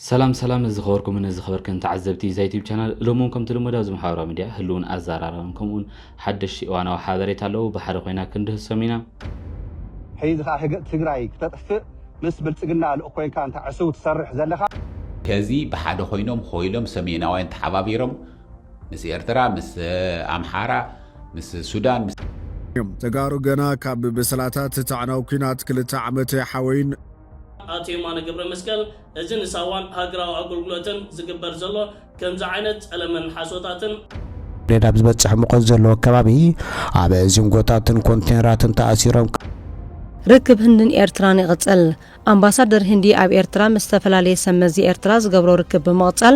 ሰላም ሰላም ዝኸበርኩምን ዝኸበርክን ተዓዘብቲ እዛ ዩቲብ ቻናል እሎም እውን ከምቲ ልሙድ ኣብዚ ማሕበራዊ ሚድያ ህልውን ኣዘራራብን ከምኡውን ሓደሽቲ እዋናዊ ሓበሬታ ኣለዉ ብሓደ ኮይና ክንድህሶም ኢና። ሕይዚ ከኣ ህግእ ትግራይ ክተጥፍእ ምስ ብልጽግና ልኡኽ ኮይንካ እንተ ዕሱብ ትሰርሕ ዘለኻ። ከዚ ብሓደ ኮይኖም ኾይሎም ሰሜናውያን ተሓባቢሮም ምስ ኤርትራ ምስ ኣምሓራ ምስ ሱዳን ምስ። ተጋሩ ገና ካብ ብስላታት እቲ ኣዕናዊ ኩናት ክልተ ዓመት ኣይሓወዩን። ኣቶ የማነ ገብረመስቀል፣ እዚ ንሳዋን ሃገራዊ ኣገልግሎትን ዝግበር ዘሎ ከምዚ ዓይነት ጸለመን ሓሶታትን፣ ነዳዲ ኣብ ዝበጽሕ ሙቐት ዘለዎ ከባቢ ኣብ ዚንጎታትን ኮንቴነራትን ተኣሲሮም ርክብ ህንድን ኤርትራን ይቕጽል። ኣምባሳደር ህንዲ ኣብ ኤርትራ ምስ ዝተፈላለየ ሰብ መዚ ኤርትራ ዝገብሮ ርክብ ብምቕጻል፣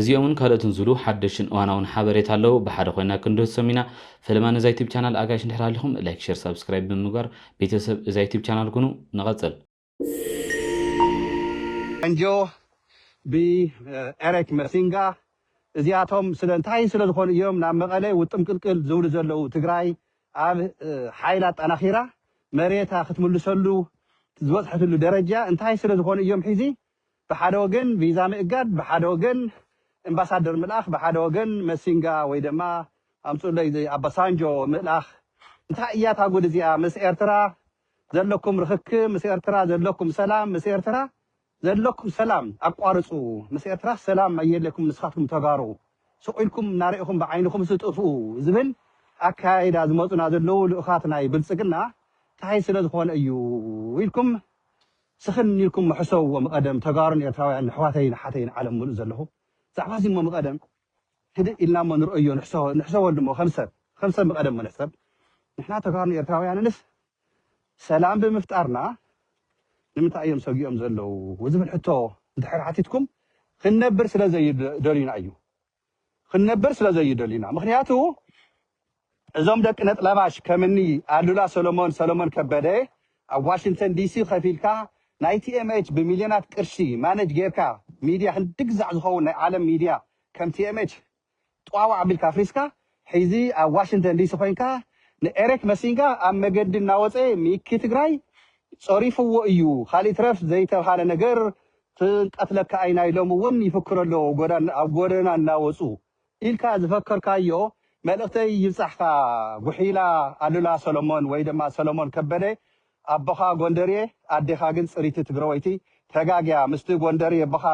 እዚኦምን ካልኦትን ዝብሉ ሓደሽትን እዋናውን ሓበሬታ ኣለው ብሓደ ኮይና ክንድህሶም ኢና ፈለማ ነዛ ዩቱብ ቻናል ኣጋይሽ እንድሕር ሃሊኹም ላይክ ሸር ሳብስክራይብ ብምግባር ቤተሰብ እዛ ዩቱብ ቻናል ኩኑ ንቐፅል። ፈንጆ ብ ኤሬክ መሲንጋ እዚኣቶም ስለ እንታይ ስለ ዝኾኑ እዮም ናብ መቐለ ውጥም ቅልቅል ዝብሉ ዘለዉ ትግራይ ኣብ ሓይል ኣጣናኺራ መሬታ ክትምልሰሉ ዝበፅሐትሉ ደረጃ እንታይ ስለ ዝኾኑ እዮም ሒዚ ብሓደ ወገን ቪዛ ምእጋድ ብሓደ ወገን እምባሳደር ምልኣኽ ብሓደ ወገን መሲንጋ ወይ ደማ ኣምጹኡለይ ዘይ ኣባሳንጆ ምእላኽ እንታይ እያ እታ ጉድ እዚኣ ምስ ኤርትራ ዘለኩም ርኽክብ ምስ ኤርትራ ዘለኩም ሰላም ምስ ኤርትራ ዘለኩም ሰላም ኣቋርጹ ምስ ኤርትራ ሰላም ኣየለኩም ንስኻትኩም ተጋሩ ሱቕ ኢልኩም እናርኢኹም ብዓይንኹም ስጥፍኡ ዝብል ኣካያይዳ ዝመጹና ዘለዉ ልኡኻት ናይ ብልጽግና እንታይ ስለ ዝኾነ እዩ ኢልኩም ስኽን ኢልኩም እሞ ሕሰብዎ ምቐደም ተጋሩን ኤርትራውያን ንሕዋተይን ኣሓተይን ዓለም ምሉእ ዘለኹም ዛዕባ እዚ እሞ ምቐደም ህድእ ኢልና እሞ ንርኦዮ ንሕሰበሉ እሞ ከም ሰብ ከም ሰብ ምቐደም እሞ ንሕሰብ ንሕና ተጋሩን ኤርትራውያንንስ ሰላም ብምፍጣርና ንምንታይ እዮም ሰጊኦም ዘለዉ ዝብል ሕቶ እንድሕር ሓቲትኩም ክንነብር ስለ ዘይደልዩና እዩ ክንነብር ስለ ዘይደልዩ ኢና ምክንያቱ እዞም ደቂ ነጥለባሽ ከምኒ ኣሉላ ሰሎሞን ሰሎሞን ከበደ ኣብ ዋሽንተን ዲሲ ከፊልካ ናይ TMH ብሚልዮናት ቅርሺ ማነጅ ጌርካ ሚድያ ክንዲ ግዛዕ ዝከውን ናይ ዓለም ሚድያ ከም TMH ጧዋዕ ኣቢልካ ኣፍሪስካ ሕዚ ኣብ ዋሽንተን ዲሲ ኮይንካ ንኤሬክ መሲንጋ ኣብ መገዲ እናወፀ ሚኪ ትግራይ ፀሪፍዎ እዩ ካሊእ ይትረፍ ዘይተብሃለ ነገር ክንቀትለካ ኢና ኢሎም እውን ይፍክሩ ኣለው ኣብ ጎደና እናወፁ ኢልካ ዝፈከርካዮ መልእክተይ ይብፃሕካ ጉሒላ ኣሉላ ሰሎሞን ወይ ድማ ሰሎሞን ከበደ ኣቦኻ ጎንደርየ ኣዴኻ ግን ፅሪቲ ትግረወይቲ ተጋግያ ምስቲ ጎንደርየ ኣቦኻ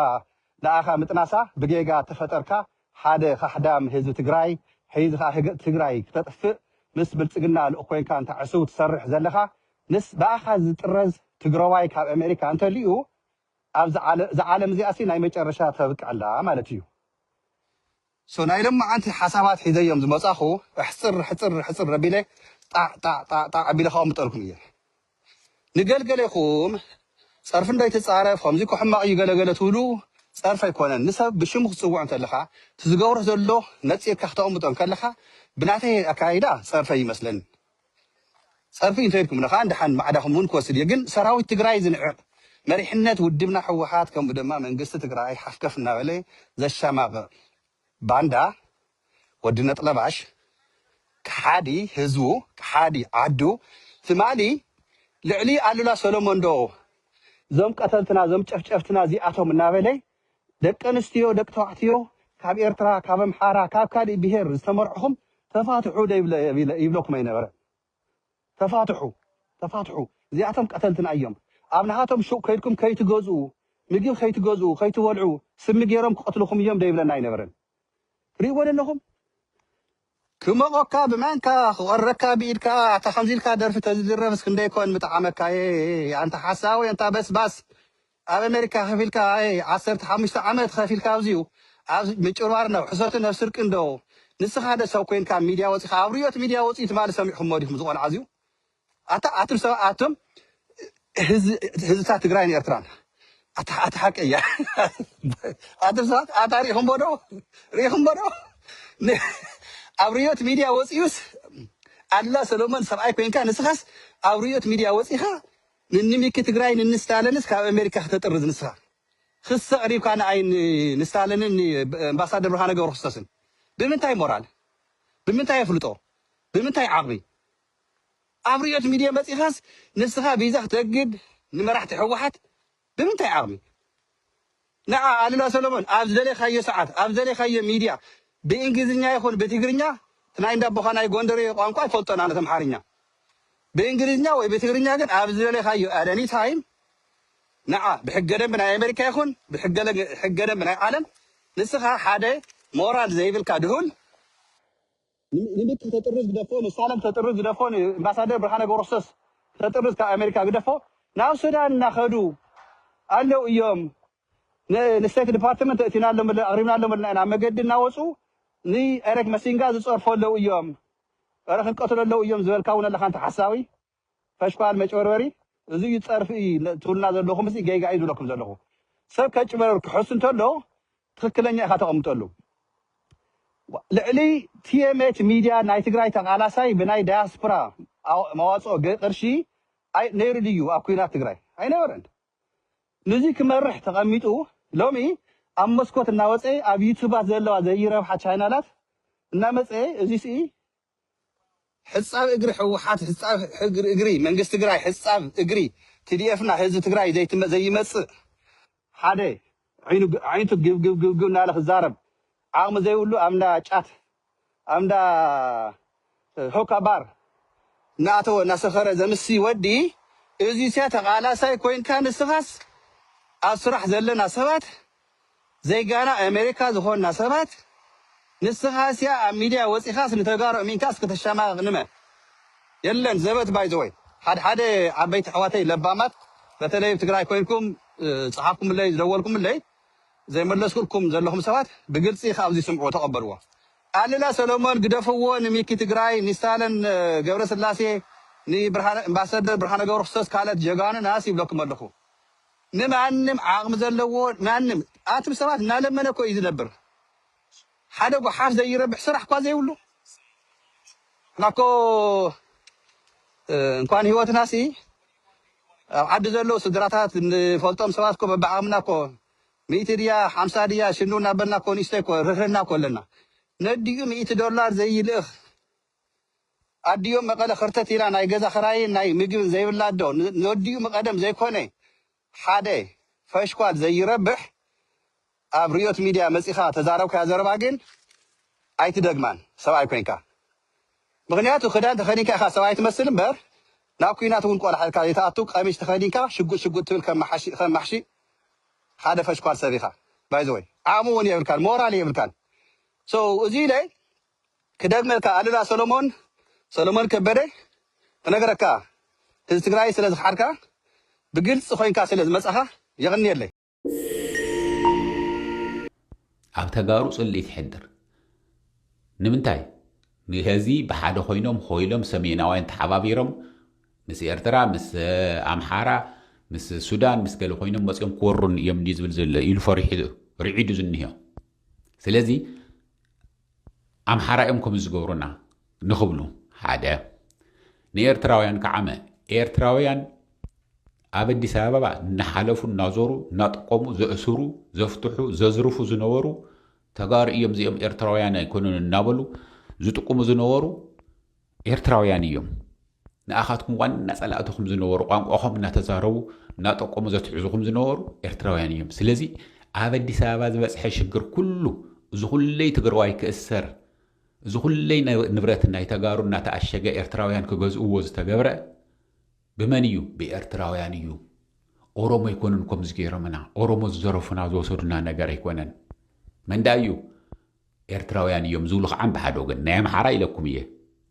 ንኣኻ ምጥናሳ ብጌጋ ተፈጠርካ ሓደ ካሕዳም ህዝቢ ትግራይ ሕይዚ ካኣ ህግጥ ትግራይ ክተጥፍእ ምስ ብልጽግና ልኡኽ ኮይንካ እንተ ዕሱብ ትሰርሕ ዘለኻ ምስ ብኣኻ ዝጥረዝ ትግረዋይ ካብ ኣሜሪካ እንተልዩ ኣብዚ ዓለም እዛ ዓለም እዚኣሲ ናይ መጨረሻ ተብቅዕላ ማለት እዩ so ናይ ሎማዓንቲ ሓሳባት ሒዘ እዮም ዝመጻኹ ኣሕጽር ሕጽር ሕጽር ኣቢለ ጣዕ ጣዕ ጣዕ ጣዕ ኣቢለ ከቅምጠልኩም እየ ንገልገሌኹም ጸርፊ እንዶ ኣይትጻረፍ ከምዚ እኮ ሕማቅ እዩ ገለ ገለ ትብሉ ጸርፊ ኣይኮነን ንሰብ ብሽሙ ክትጽውዖ እንተለኻ እቲ ዝገብሮ ዘሎ ነጺርካ ክተቅምጦ እንከለኻ ብናተይ ኣካያይዳ ጸርፊ ኣይመስለንን ጸርፊ እንተ ኢልኩምኒ ከኣ ደሓን ማዕዳኹም እውን ክወስድ እየ ግን ሰራዊት ትግራይ ዝንዕቅ መሪሕነት ውድብና ህወሓት ከምኡ ድማ መንግስቲ ትግራይ ሓፍከፍ እናበለ ዘሻማቅቅ ባንዳ ወዲ ነጥለባሽ ከሓዲ ህዝቡ ከሓዲ ዓዱ ትማሊ ልዕሊ ኣሉላ ሰሎሞን ዶ ዞም ቀተልትና ዞም ጨፍጨፍትና እዚኣቶም እናበለ ደቂ ኣንስትዮ ደቂ ተባዕትዮ ካብ ኤርትራ ካብ ኣምሓራ ካብ ካልእ ብሄር ዝተመርዕኹም ተፋትሑ ዶ ይብለኩም ኣይነበረን ተፋትሑ ተፋትሑ እዚኣቶም ቀተልትና እዮም ኣብ ናሃቶም ሹቅ ከይድኩም ከይትገዝኡ ምግብ ከይትገዝኡ ከይትበልዑ ስሚ ገይሮም ክቀትልኹም እዮም ዶ ይብለና ኣይነበረን ትሪእዎ ዶ ኣለኹም ክሞቆካ ብማንካ ክቆርረካ ብኢድካ ኣታ ከምዚ ኢልካ ደርፊ ተዝድረፍስ ክንደይ ኮን ምጠዓመካየ ኣንታ ሓሳዊ ኣንታ በስባስ ኣብ ኣሜሪካ ከፊልካ ኣይ ዓሰርተ ሓሙሽተ ዓመት ከፊልካ ኣብዚዩ ኣብ ምጭርባር ናብ ሕሶትን ናብ ስርቅን ዶ ንስካ ዶ ሰብ ኮይንካ ሚድያ ወጺካ ኣብ ርዮት ሚድያ ወጺኡ ትማሊ ሰሚዕክሞ ዲኩም ዝቆልዓ ኣዚዩ ኣታ ኣቱም ሰብ ኣቱም ህዝብታት ትግራይን ኤርትራን ኣታ ኣታ ሓቂ እያ ኣቱም ሰባት ኣታ ሪኢክሞ ዶ ሪኢክሞ ዶ ኣብ ርዮት ሚድያ ወጺኡስ ኣላ ሰሎሞን ሰብኣይ ኮይንካ ንስካስ ኣብ ርዮት ሚድያ ወጺካ ንኒ ሚኪ ትግራይ ንኒ ስታለንስ ካብ ኣሜሪካ ክተጥርዝ ንስካ ክሲ ኣቅሪብካ ንኣይ ን ንስታለንን ን ኣምባሳደር ብርሃነ ገብረክርስቶስን ብምንታይ ሞራል ብምንታይ ኣፍልጦ ብምንታይ ዓቅሚ ኣብ ሪኦት ሚድየ መፂካስ ንስካ ቪዛ ክተግድ ንመራሕቲ ሕወሓት ብምንታይ ዓቕሚ ንዓ ኣሉላ ሰሎሞን ኣብ ዝደለኻዮ ሰዓት ኣብ ዝደለኻዮ ሚድያ ብእንግሊዝኛ ይኹን ብትግርኛ እቲ ናይ እንዳቦኻ ናይ ጎንደሬ ቋንቋ ኣይፈልጦን ኣነ እቲ ኣምሓርኛ ብእንግሊዝኛ ወይ ብትግርኛ ግን ኣብ ዝደለኻዮ at any time ንዓ ብሕገ ደንቢ ናይ ኣሜሪካ ይኹን ብሕገ ሕገ ደንቢ ናይ ዓለም ንስኻ ሓደ ሞራል ዘይብልካ ድሁል ንምት ተጥርዝ ግደፎ ንሳለም ተጥርዝ ግደፎ ንእምባሳደር ብርሃነ ገብረክርስቶስ ተጥርዝ ካብ ኣሜሪካ ግደፎ ናብ ሱዳን እናኸዱ ኣለው እዮም ንስቴት ዲፓርትመንት እእቲናሎም ኣለ ኣቕሪብናሎም ኣለና ኢና መገዲ እናወፁ ንኤሬክ መሲንጋ ዝፀርፎ ኣለው እዮም ረ ክንቀትሎ ኣለው እዮም ዝበልካ እውን ኣለካ እንተ ሓሳዊ ፈሽኳል መጭበርበሪ እዚ እዩ ጸርፊ እዩ ትብሉና ዘለኹም ሲ ጌጋ እዩ ዝብለኩም ዘለኹ ሰብ ከጭበርብር ክሕሱ እንተሎ ትኽክለኛ ኢኻ ተቐምጠሉ ልዕሊ ቲኤምኤች ሚድያ ናይ ትግራይ ተቓላሳይ ብናይ ዳያስፖራ መዋፅኦ ቅርሺ ነይሩ ድዩ ኣብ ኩናት ትግራይ ኣይነበረን ንዚ ክመርሕ ተቐሚጡ ሎሚ ኣብ መስኮት እናወፀ ኣብ ዩቱባት ዘለዋ ዘይረብሓ ቻይናላት እናመፀ እዚ ስኢ ሕፃብ እግሪ ሕወሓት ሕፃብ እግሪ መንግስቲ ትግራይ ሕፃብ እግሪ tdf ና ህዝቢ ትግራይ ዘይመፅእ ሓደ ኣዒንቱ ግብግብግብግብ እናበለ ክዛረብ ዓቕሚ ዘይብሉ ኣብ እንዳ ጫት ኣብ እንዳ ሆካ ባር እናኣተወ እናሰኸረ ዘምስይ ወዲ እዙይስያ ተቓላሳይ ኮይንካ ንስኻስ ኣብ ስራሕ ዘለና ሰባት ዜጋና ኤሜሪካ ዝኾንና ሰባት ንስኻስያ ኣብ ሚድያ ወጺኻስ ንተጋሩ ኣሚንካስ ከተሻማቕቕ ንመ የለን ዘበት ባይ ዘ ወይ ሓድሓደ ዓበይቲ ኣሕዋተይ ለባማት በተለይ ኣብ ትግራይ ኮይንኩም ዝጸሓፍኩምለይ ዝደወልኩምለይ ዘይመለስኩልኩም ዘለኹም ሰባት ብግልጺ ካብዚ ስምዕዎ ተቐበልዎ ኣሉላ ሰሎሞን ግደፍዎ ንሚኪ ትግራይ ንስታለን ገብረስላሴ ንብርሃነ ኣምባሰደር ብርሃነ ገብረክርስቶስ ካልኦት ጀጋኑ ናስ ይብለኩም ኣለኹ ንማንም ዓቅሚ ዘለዎ ማንም ኣትም ሰባት እናለመነ እኮ እዩ ዝነብር ሓደ ጉሓፍ ዘይረብሕ ስራሕ እኳ ዘይብሉ እና እኮ እንኳን ህይወትና ሲ ኣብ ዓዲ ዘለዉ ስድራታት ንፈልጦም ሰባት እኮ በብዓቅምና እኮ ሚእቲ ድያ ሓምሳ ድያ ሽኑ እናበልና እኮ ንእሽተይ እኮ ርህርህና እኮ ኣለና ነዲኡ ሚእቲ ዶላር ዘይልእኽ ኣዲኡ መቀለ ከርተት ኢላ ናይ ገዛ ክራይን ናይ ምግብን ዘይብላ ኣዶ ንወዲኡ ምቀደም ዘይኮነ ሓደ ፈሽኳል ዘይረብሕ ኣብ ርዮት ሚድያ መጺኻ ተዛረብካያ ዘረባ ግን ኣይትደግማን ሰብኣይ ኮንካ ምኽንያቱ ክዳን ተኸዲንካ ኢኻ ሰብኣይ ትመስል እምበር ናብ ኩናት እውን ቆላሕ ኢልካ ዘይትኣቱ ቀሚሽ ተኸዲንካ ሽጉጥ ሽጉጥ ትብል ከም ማሕሺ ከም ማሕሺ ሓደ ፈሽኳል ሰብ ኢኻ ባይዘወይ ዓቕሚ እውን የብልካን ሞራል የብልካን ሰው እዚ ኢለ ክደግመልካ ኣሉላ ሰሎሞን ሰሎሞን ከበደ ክነግረካ ህዝቢ ትግራይ ስለ ዝኸሓድካ ብግልፂ ኮይንካ ስለ ዝመፃኻ የቕንየለይ። ኣብ ተጋሩ ፅልኢት ይሕድር ንምንታይ ንህዚ ብሓደ ኮይኖም ኾይሎም ሰሜናውያን ተሓባቢሮም ምስ ኤርትራ ምስ ኣምሓራ ምስ ሱዳን ምስ ገለ ኮይኖም መፅኦም ክወሩን እዮም ድዩ ዝብል ዘሎ ኢሉ ፈሪሑ ርዒዱ ዝኒሆ ስለዚ ኣምሓራ እዮም ከምኡ ዝገብሩና ንኽብሉ ሓደ ንኤርትራውያን ከዓመ ኤርትራውያን ኣብ ኣዲስ ኣበባ እናሓለፉ እናዞሩ እናጠቆሙ ዘእስሩ ዘፍትሑ ዘዝርፉ ዝነበሩ ተጋሩ እዮም እዚኦም ኤርትራውያን ኣይኮኑን እናበሉ ዝጥቁሙ ዝነበሩ ኤርትራውያን እዮም ንኣኻትኩም ዋና ጸላእትኹም ዝነበሩ ቋንቋኹም እናተዛረቡ እናጠቆሙ ዘትሕዙኹም ዝነበሩ ኤርትራውያን እዮም ስለዚ ኣብ ኣዲስ ኣበባ ዝበጽሐ ሽግር ኩሉ እዚ ኩለይ ትግራዋይ ክእሰር እዚ ኩለይ ንብረት ናይ ተጋሩ እናተኣሸገ ኤርትራውያን ክገዝእዎ ዝተገብረ ብመን እዩ ብኤርትራውያን እዩ ኦሮሞ ኣይኮኑን ከምዚ ገይሮምና ኦሮሞ ዝዘረፉና ዝወሰዱና ነገር ኣይኮነን መንዳ እዩ ኤርትራውያን እዮም ዝብሉ ከዓን ብሓደ ወገን ናይ ኣምሓራ ኢለኩም እየ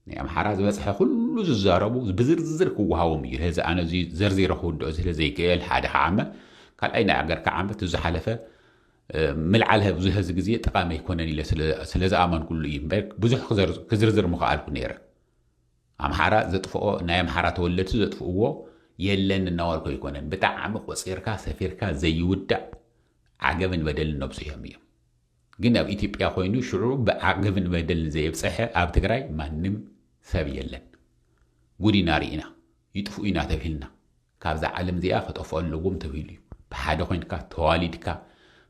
ናይ ኣምሓራ ዝበጽሐ ኩሉ ዝዛረቡ ብዝርዝር ክወሃቦም እዩ ነዚ ኣነ እዚ ዘርዚረ ክውድኦ ስለ ዘይክእል ሓደ ከዓመ ካልኣይ ናይ ኣገር ከዓመ እቲ ዝሓለፈ ምልዓል ህብዙ ህዚ ግዜ ጠቓሚ ኣይኮነን ኢለ ስለ ዝኣመንኩሉ እዩ እምበር ብዙሕ ክዝርዝር ምኸኣልኩ ነይረ ኣምሓራ ዘጥፍኦ ናይ ኣምሓራ ተወለድቲ ዘጥፍእዎ የለን እናዋልኮ ኣይኮነን ብጣዕሚ ቆፂርካ ሰፊርካ ዘይውዳእ ዓገብን በደልን ነብፅሖም እዮም ግን ኣብ ኢትዮጵያ ኮይኑ ሽዑ ብዓገብን በደልን ዘየብፀሐ ኣብ ትግራይ ማንም ሰብ የለን ጉድ ኢና ሪኢና ይጥፍኡ ኢና ተብሂልና ካብዛ ዓለም እዚኣ ክጠፍኡ ኣለዎም ተብሂሉ እዩ ብሓደ ኮይንካ ተዋሊድካ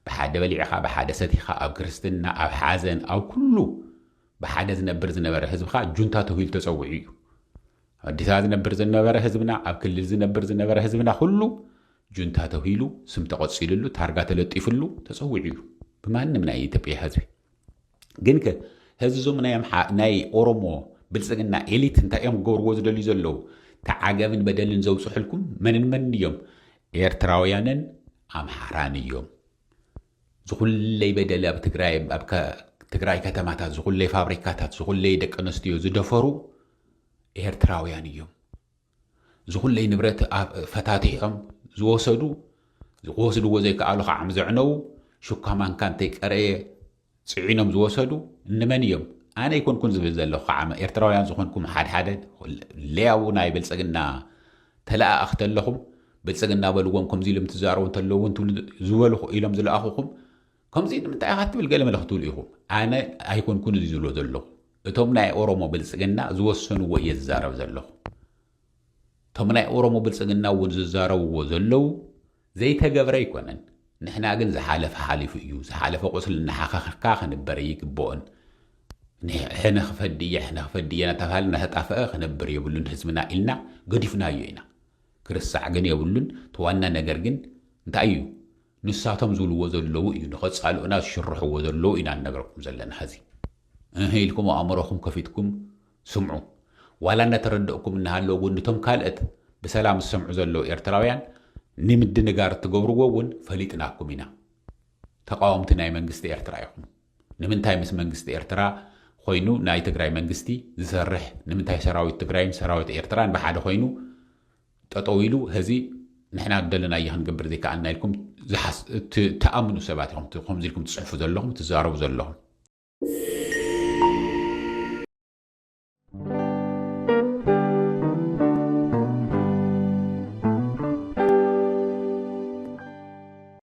ብሓደ በሊዕኻ ብሓደ ሰቲኻ ኣብ ክርስትና ኣብ ሓዘን ኣብ ኩሉ ብሓደ ዝነብር ዝነበረ ህዝብኻ ጁንታ ተብሂሉ ተፀዊዑ እዩ ኣዲስኣ ዝነብር ዝነበረ ህዝብና ኣብ ክልል ዝነብር ዝነበረ ህዝብና ኩሉ ጁንታ ተብሂሉ ስም ተቐጺልሉ ታርጋ ተለጢፍሉ ተጸዊዑ እዩ ብማንም ናይ ኢትዮጵያ ህዝቢ ግን ከ ህዚ ዞም ናይ ኦሮሞ ብልጽግና ኤሊት እንታይ እዮም ክገብርዎ ዝደልዩ ዘለዉ ተዓገብን በደልን ዘውፅሑልኩም መንን መንን እዮም ኤርትራውያንን ኣምሓራን እዮም ዝኹለይ በደል ኣብ ትግራይ ኣብ ትግራይ ከተማታት ዝኹለይ ፋብሪካታት ዝኹለይ ደቂ ኣንስትዮ ዝደፈሩ ኤርትራውያን እዮም። ዝኹለይ ንብረት ፈታቲሖም ዝወሰዱ ክወስድዎ ዘይከኣሉ ከዓም ዘዕነዉ ሹካ ማንካ እንተይቀረየ ፅዒኖም ዝወሰዱ እንመን እዮም? ኣነ ይኮንኩን ዝብል ዘለኹ ከዓ ኤርትራውያን ዝኾንኩም ሓድሓደ ለያቡ ናይ ብልፅግና ተለኣኣኽ ተለኹም ብልፅግና በልዎም ከምዚ ኢሎም ትዛረቡ እንተለዉ እውን ትብሉ ዝበሉ ኢሎም ዝለኣኹኹም ከምዚ ንምንታይ ኢኻ ትብል ገለ መለ ክትብሉ ኢኹም ኣነ ኣይኮንኩን እዚ ዝብሎ ዘለኹ እቶም ናይ ኦሮሞ ብልፅግና ዝወሰንዎ እየ ዝዛረብ ዘለኹ። እቶም ናይ ኦሮሞ ብልፅግና እውን ዝዛረብዎ ዘለው ዘይተገብረ ኣይኮነን። ንሕና ግን ዝሓለፈ ሓሊፉ እዩ፣ ዝሓለፈ ቁስሊ እናሓኸኽካ ክንበር ኣይግበኦን። ሕነ ክፈዲ እየ፣ ሕነ ክፈዲ እየ እናተባህለ እናተጣፈአ ክነብር የብሉን ህዝብና ኢልና ገዲፍናዮ ኢና። ክርሳዕ ግን የብሉን። እቲ ዋና ነገር ግን እንታይ እዩ? ንሳቶም ዝብልዎ ዘለዉ እዩ ንከጻልኡና ዝሽርሕዎ ዘለዉ ኢና ንነግረኩም ዘለና ሐዚ እህ ኢልኩም ኣእምሮኹም ከፊትኩም ስምዑ ዋላ እንዳተረደእኩም እናሃለወ እውን ንቶም ካልእት ብሰላም ዝሰምዑ ዘለዉ ኤርትራውያን ንምድንጋር እትገብርዎ እውን ፈሊጥናኩም ኢና ተቃወምቲ ናይ መንግስቲ ኤርትራ ኢኹም ንምንታይ ምስ መንግስቲ ኤርትራ ኮይኑ ናይ ትግራይ መንግስቲ ዝሰርሕ ንምንታይ ሰራዊት ትግራይን ሰራዊት ኤርትራን ብሓደ ኮይኑ ጠጠው ኢሉ ሀዚ ንሕና ዝደለናዮ ክንገብር ዘይከኣልና ኢልኩም ትኣምኑ ሰባት ኢኹም ከምዚ ኢልኩም ትፅሕፉ ዘለኹም ትዛረቡ ዘለኹም።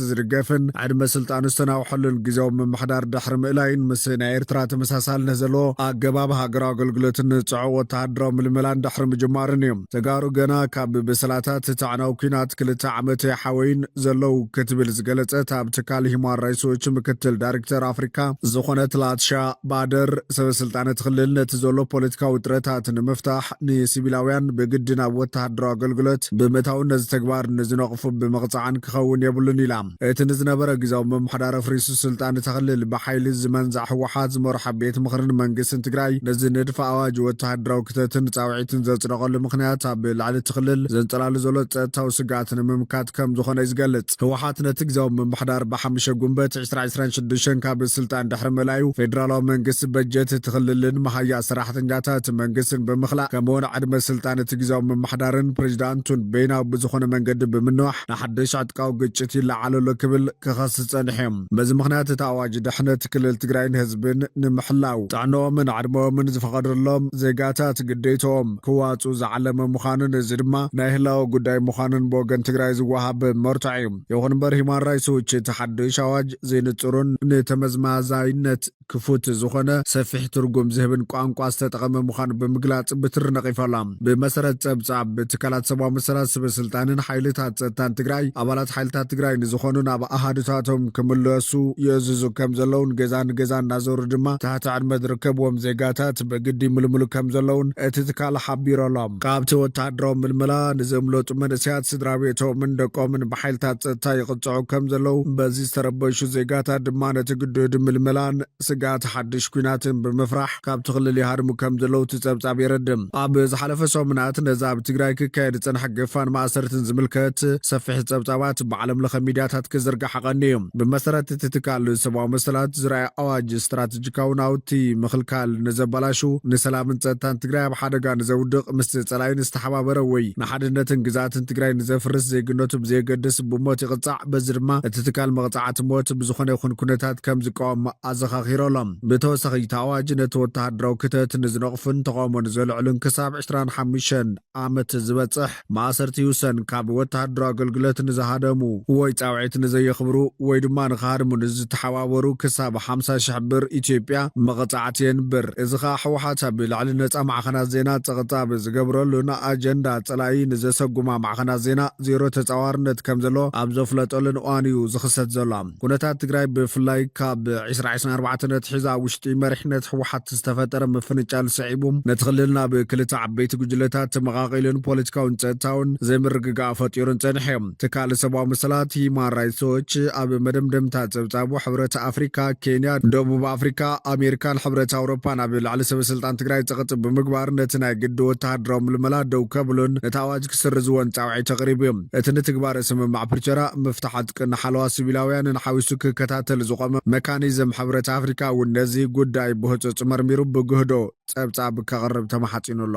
መንግስቲ ዝድገፍን ዕድመ ስልጣኑ ዝተናውሐሉን ግዝያዊ ምምሕዳር ድሕሪ ምእላዩን ምስ ናይ ኤርትራ ተመሳሳልነት ዘለዎ ኣገባብ ሃገራዊ ኣገልግሎትን ጽዑቕ ወተሃደራዊ ምልመላን ድሕሪ ምጅማሩን እዩ። ተጋሩ ገና ካብ ብስላታት እቲ ኣዕናዊ ኲናት ክልተ ዓመት ኣይሓወዩን ዘለዉ ክትብል ዝገለጸት ኣብ ትካል ሂዩማን ራይትስ ዎች ምክትል ዳይርክተር ኣፍሪካ ዝኾነት ላትሻ ባደር፣ ሰበስልጣን እቲ ክልል ነቲ ዘሎ ፖለቲካዊ ውጥረታት ንምፍታሕ ንሲቪላውያን ብግዲ ናብ ወተሃደራዊ ኣገልግሎት ብምእታውን ነዚ ተግባር ንዝነቕፉ ብምቕጻዕን ክኸውን የብሉን ኢላ። እቲ ንዝነበረ ግዝያዊ ምምሕዳር ኣፍሪሱ ስልጣን እታ ክልል ብሓይሊ ዝመንዘዐ ህወሓት ዝመርሖ ቤት ምኽርን መንግስትን ትግራይ ነዚ ንድፊ ኣዋጅ ወተሃደራዊ ክተትን ጻውዒትን ዘጽደቐሉ ምኽንያት ኣብ ልዕሊ እቲ ክልል ዘንጸላሉ ዘሎ ጸጥታዊ ስግኣት ንምምካት ከምዝኾነ እዩ ዝገልጽ። ህወሓት ነቲ ግዝያዊ ምምሕዳር ብሓምሸ ጉንበት ዕስራ ዕስራን ሽዱሽተን ካብ ስልጣን ድሕሪ ምእላዩ ፌደራላዊ መንግስቲ በጀት እቲ ክልልን መሃያ ሰራሕተኛታት እቲ መንግስትን ብምኽላእ ከምኡውን ዕድመ ስልጣን እቲ ግዝያዊ ምምሕዳርን ፕሬዚዳንቱን በይናዊ ብዝኾነ መንገዲ ብምንዋሕ ንሓደሽ ዕጥቃዊ ግጭት ይለዓል ኣሎ ክብል ክኸስስ ፀኒሑ እዩ። በዚ ምኽንያት እቲ ኣዋጅ ድሕነት ክልል ትግራይን ህዝብን ንምሕላው ጥዕነኦምን ዕድመኦምን ዝፈቐደሎም ዜጋታት ግዴተኦም ምዕራብ ክዋፅኡ ዝዓለመ ምዃኑን እዚ ድማ ናይ ህላወ ጉዳይ ምዃኑን ብወገን ትግራይ ዝወሃብ መርትዖ እዩ። ይኹን እምበር ሂዩማን ራይትስ ዎች እቲ ሓዱሽ ኣዋጅ ዘይንፁርን ንተመዝማዛይነት ክፉት ዝኾነ ሰፊሕ ትርጉም ዝህብን ቋንቋ ዝተጠቐመ ምዃኑ ብምግላፅ ብትሪ ነቒፋ'ላ። ብመሰረት ፀብፃብ ትካላት ሰብኣዊ መሰላት ስበስልጣንን ሓይልታት ፀጥታን ትግራይ ኣባላት ሓይልታት ትግራይ ንዝኾኑ ናብ ኣሃዱታቶም ክምለሱ ይእዝዙ ከምዘለውን ገዛ ንገዛ እናዞሩ ድማ ትሕቲ ዕድመ ዝርከብዎም ዜጋታት ብግዲ ይምልምሉ ከምዘለዉን እቲ ትካል ሓቢሮ'ሎ። ካብቲ ወተሃደራዊ ምልመላ ንዘምለጡ መንእሰያት ስድራቤቶምን ደቆምን ብሓይልታት ጸጥታ ይቕጽዑ ከምዘለዉ፣ በዚ ዝተረበሹ ዜጋታት ድማ ነቲ ግዱድ ምልመላን ስግኣት ሓድሽ ኲናትን ብምፍራሕ ካብቲ ክልል ይሃድሙ ከምዘለዉ እቲ ጸብጻብ የረድእ። ኣብ ዝሓለፈ ሰሙናት ነዚ ኣብ ትግራይ ክካየድ ዝጸንሐ ግፋን ማእሰርትን ዝምልከት ሰፊሕ ጸብጻባት ብዓለምለኸ ሚድያታት ክዝርጋሕ ቀንዩ'ዩ። ብመሰረት እቲ ትካል ሰብኣዊ መሰላት ዝርኣየ ኣዋጅ፣ ስትራተ፣ ስትራተጂካዊ ናውቲ ምኽልካል ንዘበላሹ፣ ንሰላምን ፀጥታን ትግራይ ኣብ ሓደጋ ንዘውድቕ፣ ምስ ፀላኢ ንዝተሓባበረ ወይ ንሓድነትን ግዝኣትን ትግራይ ንዘፍርስ ዜግነቱ ብዘየገድስ ብሞት ይቕፃዕ። በዚ ድማ እቲ ትካል መቕፃዕቲ ሞት ብዝኾነ ይኹን ኩነታት ከምዝቃወም ኣዘኻኺሩ ኣሎ። ብተወሳኺ እቲ ኣዋጅ ነቲ ወተሃደራዊ ክተት ንዝነቕፉን ተቓውሞ ንዘልዕሉን ክሳብ ዕስራን ሓሙሽተን ዓመት ዝበጽሕ ማእሰርቲ ይውሰን፣ ካብ ወተሃደራዊ ኣገልግሎት ንዝሃደሙ ወይ ጻውዒት ንዘየኽብሩ ወይ ድማ ንኽሃድሙ ንዝተሓባበሩ ክሳብ ሓምሳ ሽሕ ብር ኢትዮጵያ መቐጻዕቲ የንብር። እዚ ከኣ ህወሓት ኣብ ልዕሊ ነጻ ማዕኸናት ዜና ጸቕጣብ ዝገብረሉን ኣጀንዳ ጸላኢ ንዘሰጉማ ማዕኸናት ዜና ዜሮ ተጻዋርነት ከምዘለዎ ኣብ ዘፍለጠሉን እዋን እዩ ዝኽሰት ዘሎ። ኩነታት ትግራይ ብፍላይ ካብ ዕስራ ዕስራን ኣርባዕተን ኣትሒዛ ኣብ ውሽጢ መሪሕነት ህወሓት ዝተፈጠረ ምፍንጫል ስዒቡ ነቲ ክልል ናብ ክልተ ዓበይቲ ጉጅለታት ተመቓቒሉን ፖለቲካውን ፀጥታውን ዘይምርግጋእ ፈጢሩን ፀንሐ እዩ። ትካል ሰብኣዊ መሰላት ሂዩማን ራይትስ ዎች ኣብ መደምደምታ ፀብፃቡ ሕብረት ኣፍሪካ፣ ኬንያ፣ ደቡብ ኣፍሪካ፣ ኣሜሪካን ሕብረት ኣውሮፓን ኣብ ልዕሊ ሰበስልጣን ትግራይ ፀቕጢ ብምግባር ነቲ ናይ ግዲ ወተሃደራዊ ምልመላ ደው ከብሉን ነቲ ኣዋጅ ክስርዝወን ጻውዒት ኣቕሪቡ እዩ። እቲ ንትግባረ ስምምዕ ፕሪቶርያ፣ ምፍታሕ ዕጥቅን ሓለዋ ሲቪላውያንን ሓዊሱ ክከታተል ዝቖመ መካኒዝም ሕብረት ኣፍሪካ እውን ነዚ ጉዳይ ብህፁፅ መርሚሩ ብግህዶ ፀብፃብ ከቕርብ ተማሕፂኑ ኣሎ።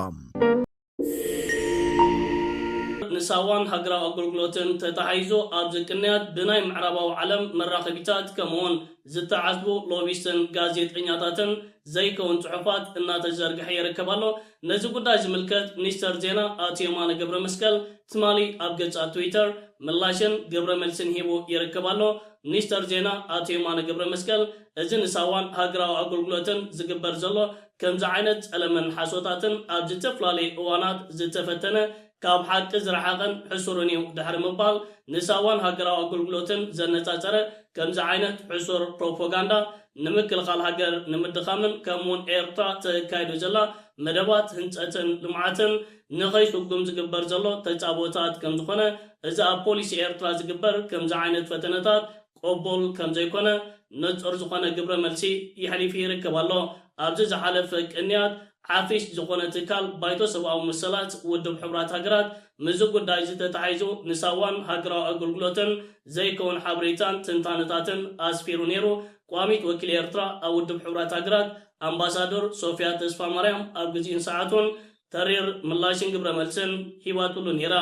ንሳዋን ሃገራዊ ኣገልግሎትን ተታሒዙ ኣብዚ ቅንያት ብናይ ምዕራባዊ ዓለም መራኸቢታት ከምኡውን ዝተዓዝቡ ሎቢስትን ጋዜጠኛታትን ዘይከውን ጽሑፋት እናተዘርግሐ ይርከብ ኣሎ። ነዚ ጉዳይ ዝምልከት ሚኒስተር ዜና ኣቶ የማነ ገብረመስቀል ትማሊ ኣብ ገጹ ኣብ ትዊተር ምላሽን ግብረ መልስን ሂቡ ይርከብ ኣሎ። ሚኒስተር ዜና ኣቶ የማነ ገብረመስቀል እዚ ንሳዋን ሃገራዊ ኣገልግሎትን ዝግበር ዘሎ ከምዚ ዓይነት ጸለመን ሓሶታትን ኣብ ዝተፍላለዩ እዋናት ዝተፈተነ ካብ ሓቂ ዝረሓቐን ሕሱርን እዩ ድሕሪ ምባል፣ ንሳዋን ሃገራዊ ኣገልግሎትን ዘነጻጸረ ከምዚ ዓይነት ሕሱር ፕሮፖጋንዳ፣ ንምክልኻል ሃገር ንምድኻምን ከምኡ'ውን ኤርትራ ተካይዶ ዘላ መደባት ህንጸትን ልምዓትን ንኸይስጉም ዝግበር ዘሎ ተጻብኦታት ከምዝኾነ፣ እዚ ኣብ ፖሊሲ ኤርትራ ዝግበር ከምዚ ዓይነት ፈተነታት፣ ቅቡል ከም ዘይኮነ ንጹር ዝኾነ ግብረ መልሲ የሕሊፊ ይርከብ ኣሎ። ኣብዚ ዝሓለፈ ቅንያት ዓፊስ ዝኾነ ትካል ባይቶ ሰብኣዊ መሰላት ውድብ ሕቡራት ሃገራት ምስዚ ጉዳይዚ ተታሒዙ ንሳዋን ሃገራዊ ኣገልግሎትን ዘይከውን ሓበሬታን ትንታነታትን ኣስፊሩ ነይሩ ቋሚት ወኪል ኤርትራ ኣብ ውድብ ሕቡራት ሃገራት ኣምባሳዶር ሶፍያ ተስፋማርያም ኣብ ግዚኡን ሰዓቱን ተሪር ምላሽን ግብረ መልስን ሂባትሉ ኔራ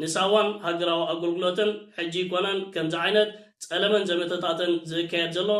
ንሳዋን ሃገራዊ ኣጎልጉሎትን ሕጂ ኣይኮነን ከምዚ ዓይነት ጸለመን ዘመተታትን ዝእካየድ ዘሎ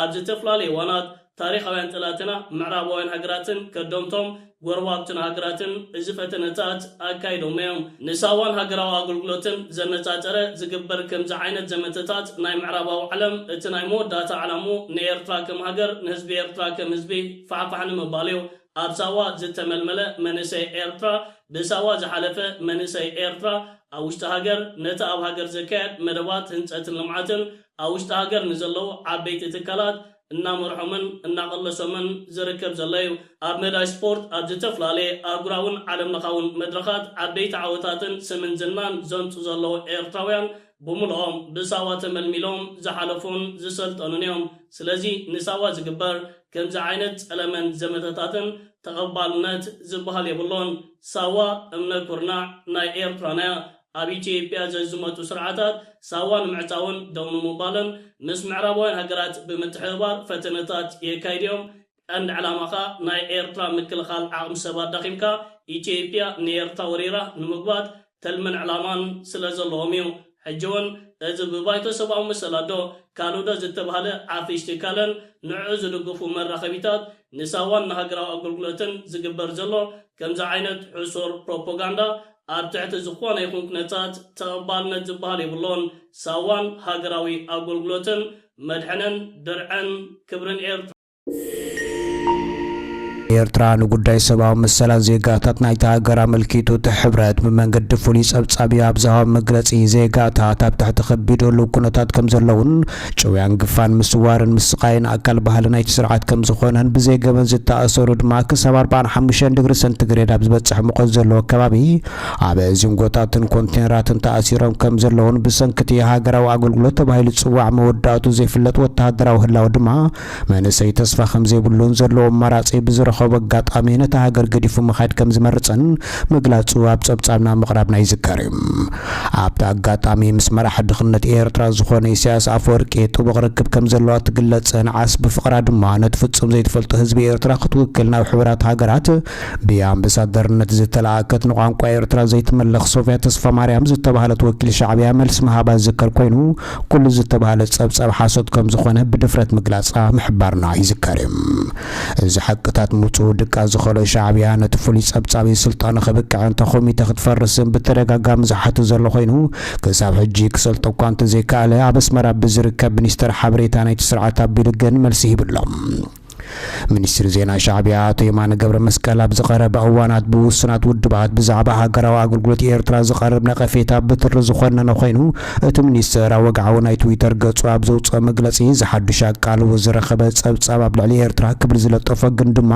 ኣብ ዝተፍላለየ እዋናት ታሪኻውያን ጠላትና ምዕራባውያን ሃገራትን ከደምቶም ጎረባብትና ሃገራትን እዚ ፈተነታት ኣካይዶሞ እዮም ንሳዋን ሃገራዊ ኣጎልጉሎትን ዘነጻጸረ ዝግበር ከምዚ ዓይነት ዘመተታት ናይ ምዕራባዊ ዓለም እቲ ናይ መወዳእታ ዕላምኡ ንኤርትራ ከም ሃገር ንህዝቢ ኤርትራ ከም ህዝቢ ፋሕፋሕ ንምባልዮ ኣብ ሳዋ ዝተመልመለ መንእሰይ ኤርትራ ብሳዋ ዝሓለፈ መንእሰይ ኤርትራ ኣብ ውሽጢ ሃገር ነቲ ኣብ ሃገር ዘካየድ መደባት ህንጸትን ልምዓትን ኣብ ውሽጢ ሃገር ንዘለዉ ዓበይቲ ትካላት እናመርሖምን እናቐለሶምን ዝርከብ ዘሎ እዩ። ኣብ መዳይ ስፖርት ኣብ ዝተፍላለየ ኣህጉራውን ዓለም ለኻውን መድረኻት ዓበይቲ ዓወታትን ስምን ዝናን ዘምጹ ዘለዉ ኤርትራውያን ብምሉኦም ብሳዋ ተመልሚሎም ዝሓለፉን ዝሰልጠኑን እዮም። ስለዚ ንሳዋ ዝግበር ከምዚ ዓይነት ጸለመን ዘመተታትን ተቐባልነት ዝብሃል የብሉን። ሳዋ እምነ ኩርናዕ ናይ ኤርትራና'ያ። ኣብ ኢትዮጵያ ዘዝመቱ ስርዓታት ሳዋ ንምዕጻውን ደው ንምባልን ምስ ምዕራባውያን ሃገራት ብምትሕብባር ፈተነታት የካይዱ'ዮም። ቀንዲ ዕላማኻ ናይ ኤርትራ ምክልኻል ዓቕሚ ሰብ ኣዳኺምካ ኢትዮጵያ ንኤርትራ ወሪራ ንምጉባት ትልምን ዕላማን ስለ ዘለዎም እዩ። ሕጂ ውን እዚ ብባይቶ ሰብኣዊ መሰላት ዶ ካልእ ዶ ዝተባህለ ዓፍሽ ትካልን ንዕዑ ዝድግፉ መራኸቢታት ንሳዋን ንሃገራዊ ኣገልግሎትን ዝግበር ዘሎ ከምዚ ዓይነት ሕሱር ፕሮፖጋንዳ ኣብ ትሕቲ ዝኾነ ይኹን ኩነታት ተቐባልነት ዝበሃል የብሉን። ሳዋን ሃገራዊ ኣገልግሎትን መድሕንን ድርዕን ክብርን ኤርትራ! ኤርትራ ንጉዳይ ሰብኣዊ መሰላት ዜጋታት ናይታ ሃገር ኣመልኪቱ እቲ ሕብረት ብመንገዲ ፍሉይ ጸብጻቢ ኣብ ዝሃቦ መግለጺ ዜጋታት ኣብ ትሕቲ ከቢድ ህሉው ኩነታት ከም ዘለውን ጭውያን ግፋን ምስዋርን ምስቓይን ኣካል ባህሊ ናይቲ ስርዓት ከም ዝኾነን ብዘይ ገበን ዝተኣሰሩ ድማ ክሳብ 45 ድግሪ ሰንቲግሬድ ኣብ ዝበጽሕ ሙቐት ዘለዎ ከባቢ ኣብ ዚንጎታትን ኮንቴነራትን ተኣሲሮም ከም ዘለውን ብሰንኪ እቲ ሃገራዊ ኣገልግሎት ተባሂሉ ዝጽዋዕ መወዳእቱ ዘይፍለጥ ወተሃደራዊ ህላወ ድማ መንእሰይ ተስፋ ከምዘይብሉን ዘለዎ ኣማራጺ ብዝረኸቦ ኣጋጣሚ ነታ ሃገር ገዲፉ ምኻድ ከምዝመርጽን ምግላጹ ኣብ ጸብጻብና ምቕራብና ይዝከር እዩ። ኣብቲ ኣጋጣሚ ምስ መራሒ ድኽነት ኤርትራ ዝኾነ ኢሳያስ ኣፈወርቂ ጥቡቕ ርክብ ከምዘለዋ ትግለጽን ዓስቢ ፍቕራ ድማ ነቲ ፍጹም ዘይትፈልጦ ህዝቢ ኤርትራ ክትውክል ናብ ሕቡራት ሃገራት ብኣምበሳደርነት ዝተላእከት ንቋንቋ ኤርትራ ዘይትምልኽ ሶፍያ ተስፋማርያም ዝተባህለት ወኪል ሻዕብያ መልሲ ምሃባ ዝዝከር ኮይኑ ኩሉ ዝተባህለ ጸብጻብ ሓሶት ከም ዝኾነ ብድፍረት ምግላጻ ምሕባርና ይዝከር እዩ። እዚ ሓቅታት ምውጽኡ ድቃስ ዝኸሎ ሻዕብያ ነቲ ፍሉይ ጸብጻብ'ዩ ስልጣኑ ከብቅዕ እንተ ኮሚተ ክትፈርስን ብተደጋጋሚ ዝሓቱ ዘሎ ኮይኑ ክሳብ ሕጂ ክሰልጦ እኳ እንተዘይከኣለ ኣብ ኣስመራ ብዝርከብ ሚኒስተር ሓበሬታ ናይቲ ስርዓት ኣቢሉ ግን መልሲ ሂቡ ኣሎ። ሚኒስትሪ ዜና ሻዕቢያ ኣቶ የማነ ገብረመስቀል ኣብዚ ቀረባ እዋናት ብውሱናት ውድባት ብዛዕባ ሃገራዊ ኣገልግሎት ኤርትራ ዝቐርብ ነቐፌታ ብትሪ ዝኾነነ ኮይኑ እቲ ሚኒስትር ኣብ ወግዓዊ ናይ ትዊተር ገጹ ኣብ ዘውጽኦ መግለጺ ዝሓዱሽ ኣቃልቦ ዝረኸበ ጸብጻብ ኣብ ልዕሊ ኤርትራ ክብል ዝለጠፎ ግን ድማ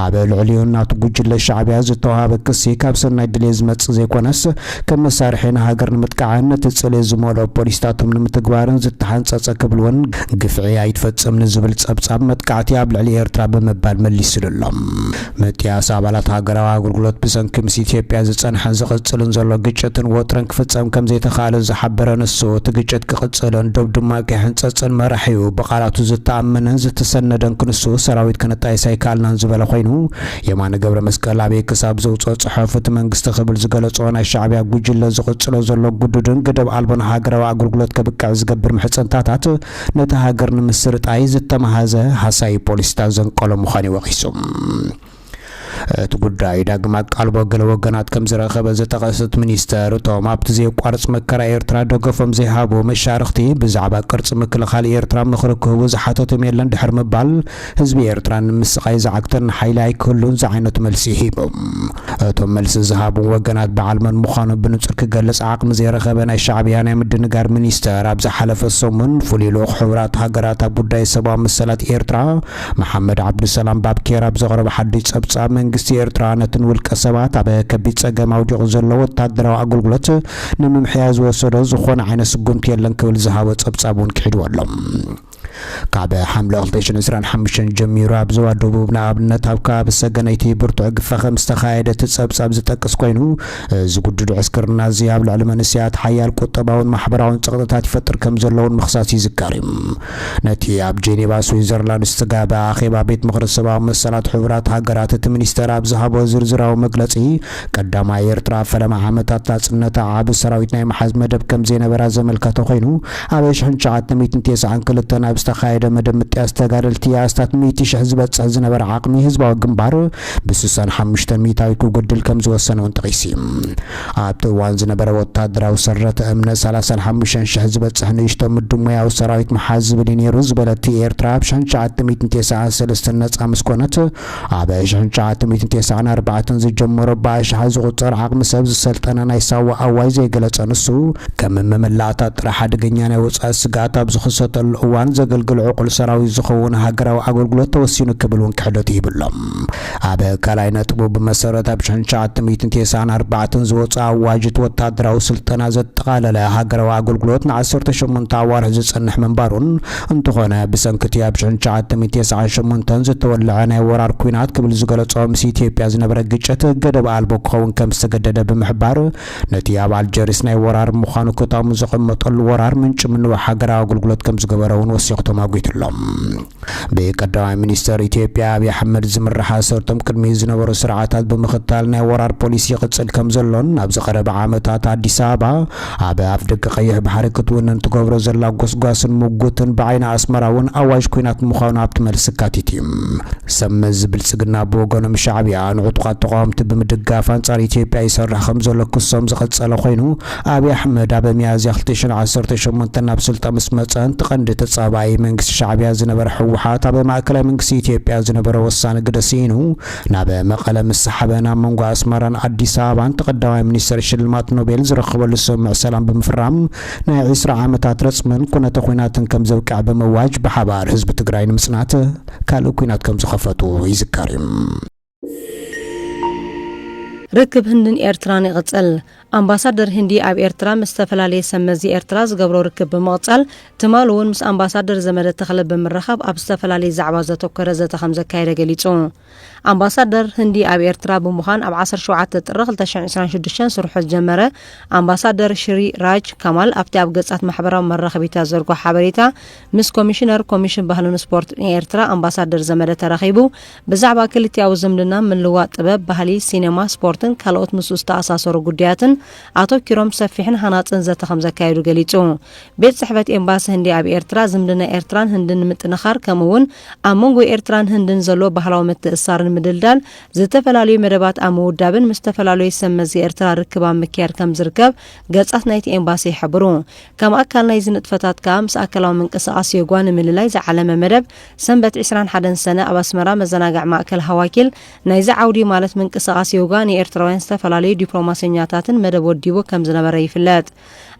ኣብ ልዕሊኡ ናቱ ጉጅለ ሻዕቢያ ዝተዋሃበ ክሲ ካብ ሰናይ ድሌት ዝመጽእ ዘይኮነስ ከም መሳርሒ ንሃገር ንምጥቃዕን ነቲ ጽልኢ ዝመልኦ ፖሊሲታቶም ንምትግባርን ዝተሓንጸጸ ክብል'ውን ግፍዒ ኣይትፈጽም ንዝብል ጸብጻብ መጥቃዕቲ ኣብ ልዕሊ ኤርትራ ብምባል መሊስሉ'ሎ። ምጥያስ ኣባላት ሃገራዊ ኣገልግሎት ብሰንኪ ምስ ኢትዮጵያ ዝጸንሐን ዝቕጽልን ዘሎ ግጭትን ወጥርን ክፍጸም ከምዘይተኻእለ ዝሓበረ ንሱ፣ እቲ ግጭት ክቕጽልን ዶብ ድማ ከይሕንጸጽን መራሒኡ ብቓላቱ ዝተኣመነን ዝተሰነደን ክንሱ ሰራዊት ከነጣይስ ኣይከኣልናን ዝበለ ኮይኑ፣ የማነ ገብረመስቀል ኣበይ ክሳብ ዘውጽኦ ጽሑፍ እቲ መንግስቲ ክብል ዝገለጾ ናይ ሻዕብያ ጉጅለ ዝቕጽሎ ዘሎ ግዱድን ገደብ ኣልቦን ሃገራዊ ኣገልግሎት ከብቅዕ ዝገብር ምሕጽንታታት ነታ ሃገር ንምስርጣይ ዝተማህዘ ሃሳዪ ፖሊሲታት ዘንቀሎ ምዃኑ'ዩ ወቒሱ። እቲ ጉዳይ ዳግም ኣቃልቦ ገለ ወገናት ከም ዝረኸበ ዝጠቐሰ እቲ ሚኒስተር፣ እቶም ኣብቲ ዘየቋርጽ መከራ ኤርትራ ደገፎም ዘይሃቡ መሻርኽቲ ብዛዕባ ቅርጺ ምክልኻል ኤርትራ ምኽሪ ክህቡ ዝሓተቶም የለን ድሕሪ ምባል፣ ህዝቢ ኤርትራ ንምስቓይ ዝዓግተን ሓይሊ ኣይክህሉን ዝዓይነቱ መልሲ ሂቡ። እቶም መልሲ ዝሃቡ ወገናት በዓል መን ምዃኑ ብንጹር ክገልጽ ዓቕሚ ዘይረኸበ ናይ ሻዕብያ ናይ ምድንጋር ሚኒስተር ኣብ ዝሓለፈ ሰሙን ፍሉይ ልኡኽ ሕቡራት ሃገራት ኣብ ጉዳይ ሰብኣዊ መሰላት ኤርትራ መሓመድ ዓብዱሰላም ባብኬር ኣብ ዘቕረቦ ሓድሽ ጸብጻብ መንግስቲ ኤርትራ ነቲ ንውልቀ ሰባት ኣብ ከቢድ ጸገም ኣውዲቑ ዘሎ ወተሃደራዊ ኣገልግሎት ንምምሕያሽ ዝወሰዶ ዝኾነ ዓይነት ስጉምቲ የለን ክብል ዝሃቦ ጸብጻብ እውን ክሒድዎ ኣሎ። ካብ ሓምለ 2025 ጀሚሩ ኣብ ዞባ ደቡብ ንኣብነት ኣብ ከባቢ ሰገነይቲ ብርቱዕ ግፈ ከም ዝተኻየደ እቲ ጸብጻብ ዝጠቅስ ኮይኑ እዚ ጉዱድ ዕስክርና እዚ ኣብ ልዕሊ መንስያት ሓያል ቁጠባውን ማሕበራውን ጸቕጥታት ይፈጥር ከም ዘለውን ምኽሳስ ይዝከር እዩ። ነቲ ኣብ ጄኔቫ ስዊዘርላንድ ዝተጋበ ኣኼባ ቤት ምኽሪ ሰብኣዊ መሰላት ሕቡራት ሃገራት እቲ ሚኒስተር ኣብ ዝሃቦ ዝርዝራዊ መግለጺ ቀዳማይ ኤርትራ ኣብ ፈለማ ዓመታት ናጽነታ ዓቢ ሰራዊት ናይ ምሓዝ መደብ ከም ዘይነበራ ዘመልከተ ኮይኑ፣ ኣብ ኣሽሕን ትሽዓተ ሚእትን ቴስዓን ክልተን ኣብ ዝተኻየደ መደብ ምጥያስ ተጋደልቲ ኣስታት ሚእቲ ሽሕ ዝበጽሕ ዝነበረ ዓቕሚ ህዝባዊ ግንባር ብስሳን ሓሙሽተን ሚእታዊት ክጎድል ከም ዝወሰነውን ጠቒሲ። ኣብቲ እዋን ዝነበረ ወተሃደራዊ ሰረተ እምነት ሰላሳን ሓሙሽተን ሽሕ ዝበጽሕ ንእሽቶ ምዱብ ሞያዊ ሰራዊት ምሓዝ ዝብል እዩ ነይሩ ዝበለት ኤርትራ ኣብ ሽሕን ትሽዓተ ሚእትን ቴስዓን ሰለስተን ነጻ ምስ ኮነት፣ ኣብ ሽሕን ትሽዓተ ሚእትን ቴስዓን ኣርባዕተን ዝጀመሮ ብኣሽሓት ዝቑጸር ዓቕሚ ሰብ ዝሰልጠነ ናይ ሳዋ ኣዋጅ ዘይገለጸ ንሱ፣ ከም መመላእታ ጥራሕ ሓደገኛ ናይ ወጻኢ ስግኣት ኣብ ዝኽሰተሉ እዋን ዘገልግል ዕቑል ሰራዊት ዝኸውን ሃገራዊ ኣገልግሎት ተወሲኑ ክብል እውን ክሕደቱ ይብሎም። ኣብ ካልኣይ ነጥቡ ብመሰረት ኣብ ሽሕን ትሽዓተ ሚእትን ቴስዓን ኣርባዕተን ዝወጽኣ ኣዋጅ እቲ ወተሃደራዊ ስልጠና ዘጠቓለለ ሃገራዊ ኣገልግሎት ንዓሰርተ ሸሞንተ ኣዋርሕ ዝጸንሕ ምንባሩን፣ እንተኾነ ብሰንኪ'ቲ ኣብ ሽሕን ትሽዓተ ሚእቲ ተሰዓን ሸሞንተን ዝተወለዐ ናይ ወራር ኲናት ክብል ዝገለጾ ምስ ኢትዮጵያ ዝነበረ ግጭት ገደብ ኣልቦ ክኸውን ከም ዝተገደደ ብምሕባር ነቲ ኣብ ኣልጀሪስ ናይ ወራር ምዃኑ ክታሙ ዘቐመጠሉ ወራር ምንጪ ምንዋሕ ሃገራዊ ኣገልግሎት ከም ዝገበረ'ውን ወሲኹ ተማጒቱ'ሎ። ብቀዳማይ ሚኒስተር ኢትዮጵያ ኣብይ ኣሕመድ ዝምራሕ ኣሰርቶም ቅድሚኡ ዝነበሩ ስርዓታት ብምኽታል ናይ ወራር ፖሊሲ ይቕጽል ከም ዘሎን ኣብዚ ቀረባ ዓመታት ኣዲስ ኣበባ ኣብ ኣፍደገ ቀይሕ ባሕሪ ክትውንን ትገብሮ ዘላ ጎስጓስን ሙጉትን ብዓይኒ ኣስመራ ውን ኣዋጅ ኩናት ምዃኑ ኣብቲ መልሲ ኣካቲቱ እዩ። ሰብ መዚ ብልጽግና ብወገኖም ሻዕብያ ንዕጡቓት ተቓወምቲ ብምድጋፍ ኣንጻር ኢትዮጵያ ይሰርሕ ከምዘሎ ክሶም ዝቐጸለ ኮይኑ ኣብይ ኣሕመድ ኣብ ሚያዝያ ክልተ ሽሕን ዓሰርተ ሸሞንተን ናብ ስልጣን ምስ መጸ እቲ ቀንዲ ተጻባኢ መንግስቲ ሻዕብያ ዝነበረ ህወሓት ኣብ ማእከላይ መንግስቲ ኢትዮጵያ ዝነበሮ ወሳኒ ግደ ስኢኑ ናብ መቐለ ምስ ሰሓበ ናብ መንጎ ኣስመራን ኣዲስ ኣበባን እቲ ቀዳማይ ሚኒስተር ሽልማት ኖቤል ዝረከበሉ ስምምዕ ሰላም ብምፍራም ናይ ዒስራ ዓመታት ረጽምን ኩነተ ኲናትን ከም ዘብቅዕ ብምእዋጅ ብሓባር ህዝቢ ትግራይ ንምጽናት ካልእ ኲናት ከም ዝኸፈቱ ይዝከር እዩ። ርክብ ህንድን ኤርትራን ይቕጽል። ኣምባሳደር ህንዲ ኣብ ኤርትራ ምስ ዝተፈላለየ ሰብ መዚ ኤርትራ ዝገብሮ ርክብ ብምቕጻል፣ ትማሊ እውን ምስ ኣምባሳደር ዘመደ ተኽለ ብምርኻብ ኣብ ዝተፈላለየ ዛዕባ ዘተኮረ ዘተ ከምዘካየደ ገሊጹ። ኣምባሳደር ህንዲ ኣብ ኤርትራ ብምዃን ኣብ ዓሰርተ ሸውዓተ ጥሪ ክልተ ሽሕን ዕስራን ሽዱሽተን ስርሑ ዝጀመረ ኣምባሳደር ሽሪ ራጅ ካማል ኣብቲ ኣብ ገጻት ማሕበራዊ መራኸቢታት ዘርግሖ ሓበሬታ ምስ ኮሚሽነር ኮሚሽን ባህልን ስፖርትን ኤርትራ ኣምባሳደር ዘመደ ተራኺቡ ብዛዕባ ክልቲኣዊ ዝምድና፣ ምልውዋጥ ጥበብ፣ ባህሊ፣ ሲነማ፣ ስፖርትን ካልኦት ምስኡ ዝተኣሳሰሩ ጉዳያትን ኣቶኪሮም ሰፊሕን ሃናጽን ዘተ ከምዘካየዱ ገሊጹ። ቤት ጽሕፈት ኤምባሲ ህንዲ ኣብ ኤርትራ፣ ዝምድና ኤርትራን ህንድን ንምጥንኻር ከምኡ'ውን ኣብ መንጎ ኤርትራን ህንድን ዘሎ ባህላዊ ምትእስሳር ንምድልዳል ዝተፈላለዩ መደባት ኣብ ምውዳብን ምስ ዝተፈላለዩ ሰብ መዚ ኤርትራ ርክብ ኣብ ምክያድ ከምዝርከብ ገጻት ናይቲ ኤምባሲ ይሕብሩ። ከም ኣካል ናይዚ ንጥፈታት ከኣ ምስ ኣካላዊ ምንቅስቓስ ዮጓ ንምልላይ ዝዓለመ መደብ ሰንበት ዕስራን ሓደን ሰነ ኣብ ኣስመራ መዘናግዕ ማእከል ሃዋኪል ናይዚ ዓውዲ ማለት ምንቅስቓስ ዮጋ ንኤርትራውያን ዝተፈላለዩ ዲፕሎማሰኛታትን መደብ ወዲቡ ከም ዝነበረ ይፍለጥ።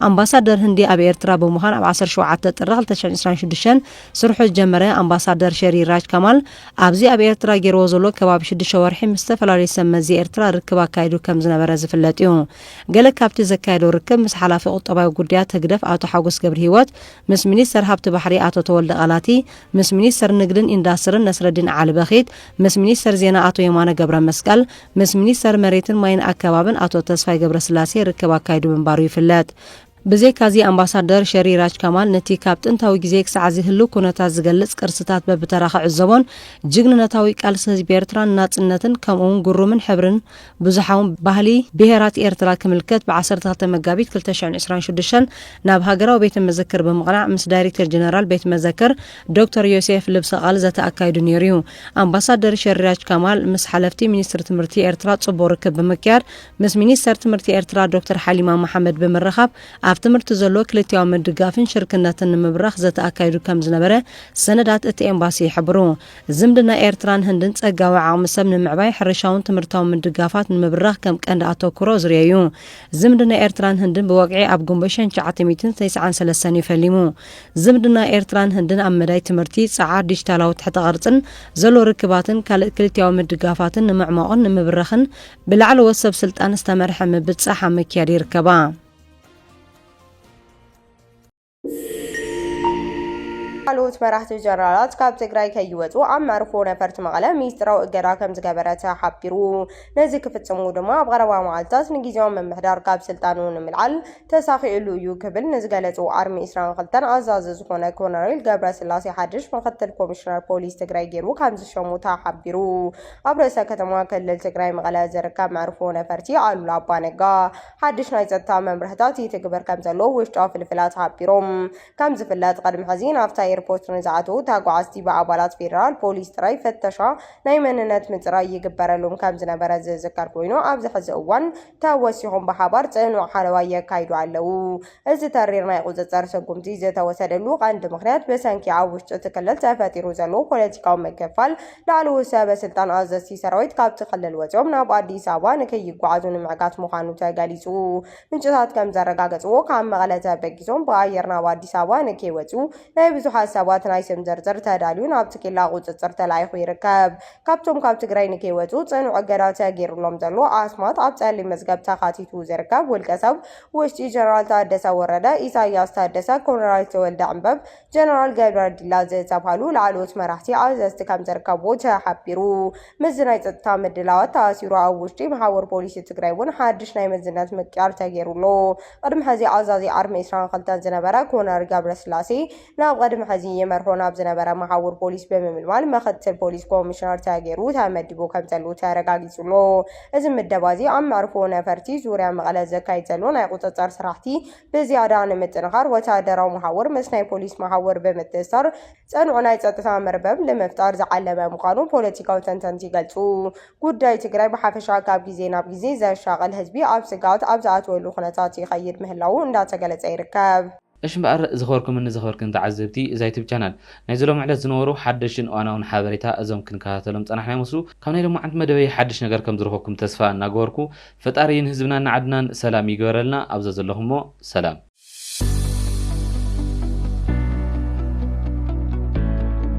ኣምባሳደር ህንዲ ኣብ ኤርትራ ብምዃን ኣብ ዓሰርተ ሸውዓተ ጥሪ ክልተ ሽሕን ዕስራን ሽዱሽተን ስርሑ ዝጀመረ ኣምባሳደር ሸሪ ራጅ ካማል ኣብዚ ኣብ ኤርትራ ገይርዎ ዘሎ ከባቢ ሽዱሽተ ወርሒ ምስ ዝተፈላለዩ ሰብ መዚ ኤርትራ ርክብ ኣካይዱ ከም ዝነበረ ዝፍለጥ እዩ። ገለ ካብቲ ዘካየዶ ርክብ ምስ ሓላፊ ቁጠባዊ ጉዳያት ህግደፍ ኣቶ ሓጎስ ገብርሂወት ምስ ሚኒስተር ሃብቲ ባሕሪ ኣቶ ተወልደ ቃላቲ፣ ምስ ሚኒስተር ንግድን ኢንዳስትርን ነስረዲን ዓሊ በኺት፣ ምስ ሚኒስተር ዜና ኣቶ የማነ ገብረመስቀል፣ ምስ ሚኒስተር መሬትን ማይን ኣከባብን ኣቶ ተስፋይ ገብረስላሴ ርክብ ኣካይዱ ምንባሩ ይፍለጥ። ብዘይካዚ ኣምባሳደር ሸሪ ራጅ ካማል ነቲ ካብ ጥንታዊ ግዜ ክሳዕዚ ህልው ኩነታት ዝገልጽ ቅርስታት በብተራ ክዕዘቦን ጅግንነታዊ ቃልሲ ህዝቢ ኤርትራ ንናጽነትን ከምኡ'ውን ግሩምን ሕብርን ብዙሓውን ባህሊ ብሄራት ኤርትራ ክምልከት ብ ዓሰርተ ክልተ መጋቢት ክልተ ሽሕን ዕስራን ሽዱሽተን ናብ ሃገራዊ ቤተ መዘክር ብምቕናዕ ምስ ዳይሬክተር ጀነራል ቤት መዘክር ዶክተር ዮሴፍ ልብሰ ቃል ዘተ ኣካይዱ ነይሩ እዩ። ኣምባሳደር ሸሪያጅ ካማል ምስ ሓለፍቲ ሚኒስትሪ ትምህርቲ ኤርትራ ጽቡቕ ርክብ ብምክያድ ምስ ሚኒስተር ትምህርቲ ኤርትራ ዶክተር ሓሊማ መሓመድ ብምርኻብ ኣብ ትምህርቲ ዘሎ ክልቲኣዊ ምድጋፍን ሽርክነትን ንምብራኽ ዘተ ኣካይዱ ከም ዝነበረ ሰነዳት እቲ ኤምባሲ ይሕብሩ። ዝምድና ኤርትራን ህንድን ጸጋዊ ዓቕሚ ሰብ ንምዕባይ፣ ሕርሻውን ትምህርታውን ምድጋፋት ንምብራኽ ከም ቀንዲ ኣተኩሮ ዝርኤ'ዩ። ዝምድና ኤርትራን ህንድን ብወግዒ ኣብ ጉንቦ ሸንሸዓተ ሚእትን ተስዓን ሰለስተን'ዩ ፈሊሙ። ዝምድና ኤርትራን ህንድን ኣብ መዳይ ትምህርቲ፣ ጸዓር፣ ዲጂታላዊ ትሕተ ቅርጽን ዘሎ ርክባትን ካልእ ክልቲኣዊ ምድጋፋትን ንምዕሟቕን ንምብራኽን ብላዕለዎት ሰብ ስልጣን ዝተመርሐ ምብጻሕ ኣብ ምክያድ ይርከባ። ካልኦት መራሕቲ ጀነራላት ካብ ትግራይ ከይወፁ ኣብ መርፎ ነፈርቲ መቐለ ሚስጥራዊ እገዳ ከም ዝገበረ ተሓቢሩ። ነዚ ክፍፅሙ ድማ ኣብ ቀረባ መዓልትታት ንግዜያዊ ምምሕዳር ካብ ስልጣኑ ንምልዓል ተሳኺዕሉ እዩ ክብል ንዝገለፁ ኣርሚ 22 ኣዛዚ ዝኾነ ኮነሬል ገብረ ስላሴ ሓድሽ ምክትል ኮሚሽነር ፖሊስ ትግራይ ገይሩ ከም ዝሸሙ ተሓቢሩ። ኣብ ርእሰ ከተማ ክልል ትግራይ መቐለ ዝርከብ መዕርፎ ነፈርቲ ኣሉላ ኣባ ነጋ ሓድሽ ናይ ጸጥታ መምርሕታት ይትግበር ከምዘሎ ውሽጣዊ ፍልፍላት ሓቢሮም። ከም ዝፍለጥ ቅድሚ ሕዚ ናብታ ኤርፖርት ንዝኣተዉ ተጓዓዝቲ ብኣባላት ፌደራል ፖሊስ ጥራይ ፍተሻ ናይ መንነት ምጽራይ ይግበረሎም ከም ዝነበረ ዝዝከር ኮይኑ ኣብዚ ሕዚ እዋን ተወሲኾም ብሓባር ጽኑዕ ሓለዋ የካይዱ ኣለዉ። እዚ ተሪር ናይ ቁፅፅር ስጉምቲ ዝተወሰደሉ ቀንዲ ምኽንያት ብሰንኪ ኣብ ውሽጢ እቲ ክልል ተፈጢሩ ዘሎ ፖለቲካዊ ምክፍፋል ላዕለዎት ሰበ ስልጣን ኣዘዝቲ ሰራዊት ካብቲ ክልል ወፂኦም ናብ ኣዲስ ኣበባ ንከይጓዓዙ ንምዕጋት ምዃኑ ተገሊፁ። ምንጭታት ከምዘረጋገፅዎ ካብ መቐለ ተበጊሶም ብኣየር ናብ ኣዲስ ኣበባ ንከይወፅኡ ናይ ብዙሓት ሰባት ናይ ስም ዝርዝር ተዳልዩ ናብቲ ኬላ ቁፅፅር ተላኢኹ ይርከብ። ካብቶም ካብ ትግራይ ንከይወፅኡ ፅኑዕ እገዳ ተገይሩሎም ዘሎ ኣስማት ኣብ ፀሊም መዝገብ ተኻቲቱ ዝርከብ ውልቀሰብ ውሽጢ ጀነራል ታደሰ ወረደ፣ ኢሳይያስ ታደሰ፣ ኮሎራል ተወልደ ዕምበብ፣ ጀነራል ገብረ ዲላ ዝተብሃሉ ላዕለዎት መራሕቲ ኣዘዝቲ ከምዝርከብዎ ተሓቢሩ። ምስዚ ናይ ጸጥታ ምድላዋት ተኣሲሩ ኣብ ውሽጢ መሓውር ፖሊሲ ትግራይ እውን ሓድሽ ናይ መዝነት ምቅያር ተገይሩ ኣሎ። ቅድሚ ሕዚ ኣዛዚ ዓርሚ ዕስራን ክልተን ዝነበረ ኮነር ገብረስላሴ፣ ናብ ቐድሚ ሕዚ ይመርሖ ናብ ዝነበረ መሓውር ፖሊስ ብምምልማል መኸትል ፖሊስ ኮሚሽነር ተገይሩ ተመዲቡ ከምዘሉ ተረጋጊጹ ኣሎ። እዚ ምደባዚ ኣብ መዕርፎ ነፈርቲ ዙርያ መቐለ ዘካይድ ዘሎ ናይ ቁጽጽር ስራሕቲ ብዝያዳ ንምጥንኻር ወተሃደራዊ መሓውር ምስ ናይ ፖሊስ መሓውር ብምትእስሳር ጽኑዕ ናይ ጸጥታ መርበብ ንምፍጣር ዝዓለመ ምዃኑ ፖለቲካዊ ተንተንቲ ይገልጹ። ጉዳይ ትግራይ ብሓፈሻ ካብ ግዜ ናብ ግዜ ዘሻቕል ህዝቢ ኣብ ስግኣት ኣብ ዝኣትወሉ ኩነታት ይኸይድ ምህላዉ እንዳተገለጸ ይርከብ። እሽ እምበኣር ዝኸበርኩምን ዘኽበርክን ተዓዘብቲ እዛ ዩቱብ ቻናል፣ ናይዚ ሎሚ ዕለት ዝነበሩ ሓደሽትን እዋናውን ሓበሬታ እዞም ክንከታተሎም ዝጸናሕና ይመስሉ፣ ካብ ናይ ሎማዓንቲ መደበይ ሓድሽ ነገር ከም ዝረኸብኩም ተስፋ እናገበርኩ፣ ፈጣሪ ንህዝብናን ንዓድናን ሰላም ይግበረልና፣ ኣብ ዘዘለኹሞ ሰላም።